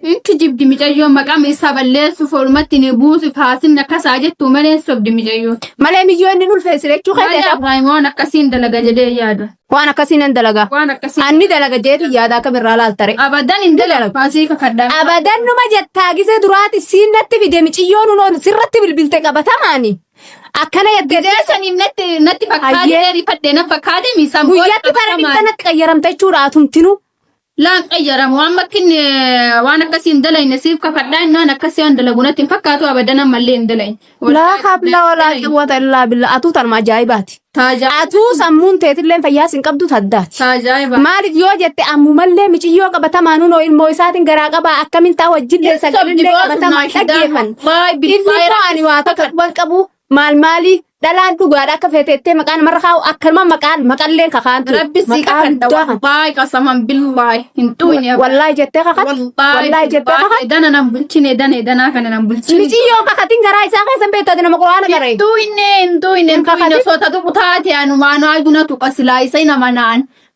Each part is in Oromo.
Hin kijibdi micayyoon maqaa miissaa balleessuuf oolumatti ni buusuuf haasinni akkas haa jettuu malee hin sobdi micayyoon. Malee miyyoo inni ulfeessi jechuu Malee keeteeta. Abiraayim waan akkasiin dalaga jedhee yaada. Waan akkasii nan dalaga. Waan akkasii Anni dalaga jeeti yaada akka birraa laaltare. abadan hin dalagu. Faasii kakadhaa. Abadan numa jettaa gisee duraati siin natti fide miciyyoon unoon sirratti bilbilte qabatamaani. Akkana jettee Gizee saniin natti natti fakkaatee Ayyee. rifadhee na fakkaatee miisaan booda guyyatti bara qabatamaan. dhibba natti qayyaramta jechuudha atumtinu. Laan qayyaramu amma akka inni waan akkasii hin dalayne siif kakadhaa inni waan akkasii waan dalagu natti hin fakkaatu abadan ammallee hin dalayne. Laa habla walaa quwwata illaa billaa atuu tanuma ajaa'ibaati. Taajaa'iba. Atuu sammuun teetillee fayyaas hin qabdu taddaati. Taajaa'iba. Maaliif yoo jette ammumallee miciyyoo qabatamaan hunoo ilmoo isaatiin garaa qabaa akkamiin taa wajjillee sagalee qabatamaan dhaggeeffan. Inni koo ani waa takka quban qabu maal maali dhalaan dhugaadha akka feete jettee maqaa namarra kaa'u akkanuma maqaan maqalleen kakaantu Rabbi si maqaa kakadha guddaa kan wallaahi qasaman billaahi hin dhuune abba. wallaahi jettee kakatu wallaahi wallaahi jettee billaahi kakatu edana nan bulchine edana edanaa kana nan bulchine miciyyoo kakatiin garaa isaa keessa hin beektu ati nama quraana garee hin dhuine hin dhuine hin dhuine kakatin. osoo tatu kutaate anumaan aayuna tuqa silaa isa hin amanaan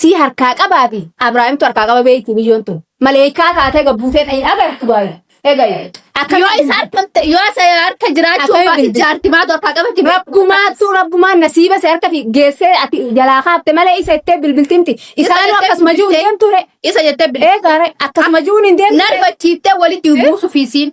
Sii harkaa qabaa fi Abrahaimtu harkaa qaba beeyti biyyoon tun. Maleeykaa taatee gabbuutee ta hin agartu baay. Egayu. Akka Yoo isa harka yoo isa harka jiraachuu Akka baate eebbise. jaartimaatu harkaa qabatti. Rabbumaattu rabbumaan nasiiba si harka fi geessee ati jalaa kaafte malee isa ittee bilbiltimti. Isaanuu jettee akkasuma jiru bilbiltee. deemtu re. Isa jettee bilbiltee. Eegaare akkasuma jiruun hin deemtu. Narbachiiftee walitti buusuuf isiin.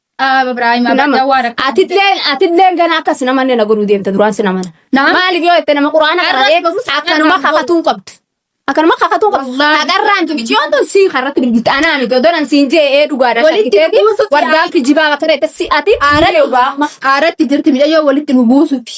Dhaaba Ibraahim Nama. Abadda waa rakka. Atilleen atilleen gana akkas namanne na godhuu deemta duraan si namana. Nama. Maaliif yoo jette nama quraana Arras qabatee barumsa akkanuma kanaan kakatuu qabdu. Akkanuma kakatuu qabdu. Wallaahi. Agarraan tuni yoo tun sii karratti bilbilti anaa miti odonan siin jee ee dhugaadhaan Walitti shakkiteeti buusutti wardaan yaa'e. kijibaa bakka ta'e si ati Aaratti dhugaa. aaratti jirti midhayyoo walitti nu buusuti.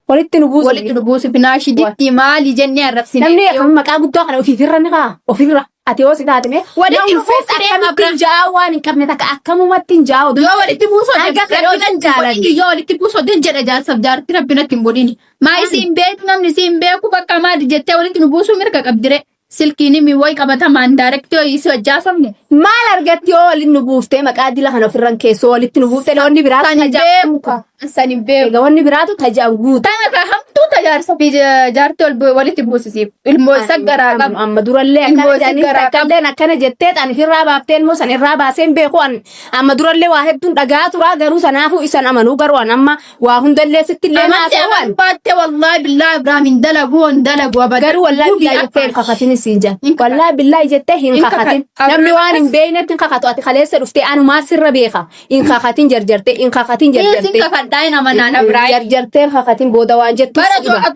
Walitti nu buusa. Walitti nu buusi binaashii ditti maali jennee arrabsine. Namni akkam maqaa guddaa kana ofiifirra ni kaa ofirra ati yoo si taate mee. Walitti nu buusa deema bira. Ja'a waan hin qabne takka akkamumatti hin ja'a oduu. Yoo walitti buusa Hanga fedhe oduu hin jaalanne. Yoo walitti buusa oduu hin jedha jaarsaf jaarti rabbi natti hin godhini. Maa isiin beektu namni isiin beeku bakka maali jettee walitti nu buusuu mirga qabdire. Silkiin himi woy qabatamaan direct yoo isii wajji haasofne. Maal argatti yoo walitti nu buuftee maqaa dila kana ofirran keessoo walitti nu buuftee wanni biraa San hin beeku ka. San hin beeku. Egaa wanni biraatu tajaan guutu. Tana ka hamtuu ta jaarsa fi ja- jaartii wal bu- walitti buusisiif. Ilmoo isa garaa qaba. Amma durallee Ilmoo akkana isa jedhanii garaa qaba. takkaalleen akkana jettee an irraa baaftee ilmoo san irraa baaseen beeku an amma durallee waa hedduun dhagaa turaa garuu sanaafuu isan amanuu garuu an amma Waa hundallee sitti illee naa Amanti ta'uwan. aman baatte wallahi billahi Ibrahim hin dalagu hin dalagu abadan. Garuu wallahi Gubii billahi jettee hin afaan. kakatin isiin jedha. Hin kakatu. Wallahi billahi jettee hin Hin kakatu. kakatin. Abdul Namni waan hin Aziz. beeknetti hin kakatu. Ati kaleessa dhuftee anumaa sirra beeka. Hin kakatin jarjartee hin kakatin Dhiisin jarjartee. kakadhaa hin amanaan Ibrahim. Jarjartee hin kakatin booda waan jettu Bara si dhiba.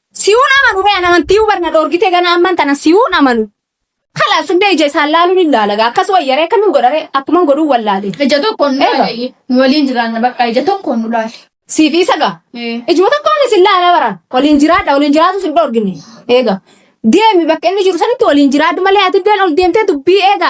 Siun amanu ree an amantiyu bar na dhorgite gana amman tana siun amanu kalaas hundee ija isaan laalun hin laala gaa akkas wayya ree akkamin godha ree akkuman godhun wallaale Ija tokkoon nu Eega. laali. Nu waliin jiraanna bakka ija tokkoon nu laali. siif isa gaa Ee. ijuma tokkoon isin laala bara waliin jiraadha waliin jiraatu sin dhorgine eega deemi bakka inni jiru sanitti waliin jiraadhu malee ati iddeen ol deemtee dubbii eega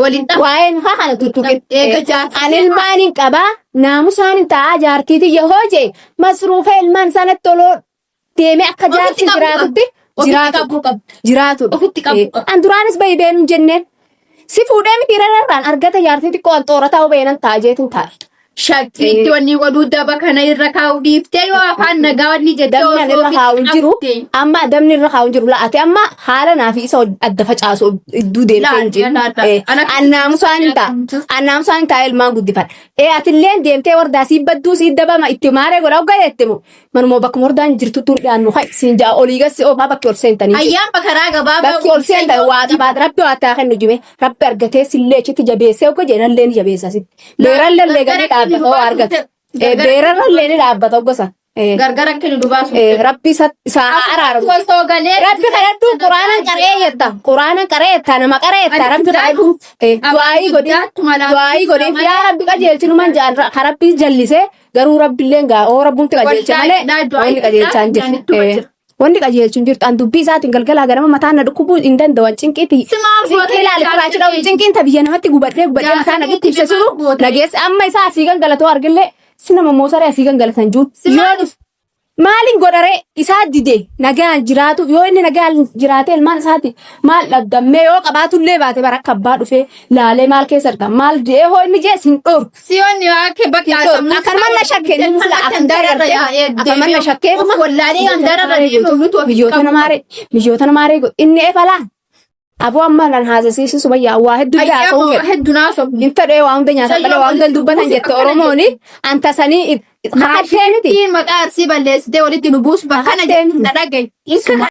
Waliin ta'a. Waa'een haa kana tuttuqin. Eega jaartii Ani ilmaan hin qabaa naamusaan hin ta'a jaartii tiyya hoo jee masruufa ilmaan sanatti oloo deemee akka Ofitti jaartii qabuu jiraatutti qabda. Ofitti jiraatu. qabuu qabda. jiraatu. Ofitti qabuu qabda. An duraanis bahi beenuu hin jenneen. Si fuudhee miti irrarraan argata jaartii xiqqoo an xoorataa hubeenan ta'a jeetin taa'e. Shakkiitti wanni godhuu daba kana irra kaa'u dhiiftee yoo afaan nagaa wanni jettee Dabni ani osoo irra kaa'u hin jiru. qabde. Amma dabni irra kaa'u hin jiru. La ati amma haala naa fi isa wal- adda facaasu idduu deemtee hin Laal, jiru. laal, laal. Eh, Ana- An naamusaan hin ta'a. An naamusaan hin ta'a ilmaan guddifadha. Eh atilleen deemtee wardaa sii badduu sii dabama itti maaree godha hoggaa jette moo. Manuma bakkuma wardaan jirtu tun dhiyaannu kai siin ja'a olii gassi oofaa bakki ol seentanii. jiru. Ayyaan bakaraa gabaabaa. Bakki ol seentan waa tabaat rabbi waa taa kennu jime rabbi argatee sillee achitti jabeessee hogga jedhan illee ni jabeessa sitti. Beeraan lallee galii dhaabbata hoo argatu. Eh, Beeraan lallee ni dhaabbata gosa. Eh, Gargara akka nu dubaasu. eh, Rabbi isa isa haa araaramu. Osoo galee. Rabbi kadhadhu quraana qaree jetta. Quraana qaree jetta nama qaree jetta rabbi kadhadhu. Eh, Du'aayii godhi. Du'aayii godhi. Yaa rabbi qajeelchi numan jaan ka rabbi jallise garuu rabbilleen gaa oo rabbumti qajeelche malee wanni qajeelchaan jiru. Eh, Wanni qajeelchu hin jirtu. An dubbii isaatiin galgalaa ganama mataan na dhukkubuu hin danda'u. An cinqiitii. Si maaf Cinqii gootee ilaali jechaa kuraachi dha'u. jirti? Cinqiin ta biyya namatti gubadhee gubadhee Yaa, mataa na cinqiitii dhukkubse maaf sunu goote? na geesse. Amma isaa asii gangalatoo argillee si nama moosaree asii gangalatan jiru. Si Yoo maaf- dhuf- Maaliin godharee isaa dide nagaan jiraatu yoo inni nagaan jiraate ilmaan isaati maal dhabdammee yoo qabaatullee baate bara akka abbaa dhufee laalee maal keessa jirta maal jedhee hoo inni jees hin dhorku. Siyoon akka bakka Kan manna shakkee ni mula akan dararra akan manna shakkee dhuma wallaalee kan dararra deemu nutu biyyoota namaaree biyyoota namaaree inni eefalaan aboo amma nan haasasiisu sumayyaa waa hedduu haasa'uu fedha hedduu naasoo hin fedhee waa hunda nyaata malee waa hunda dubbatan jette oromooni anta sanii haadhee miti maqaa arsii balleessitee walitti nu buusu bakka kana jedhu na dhagaye.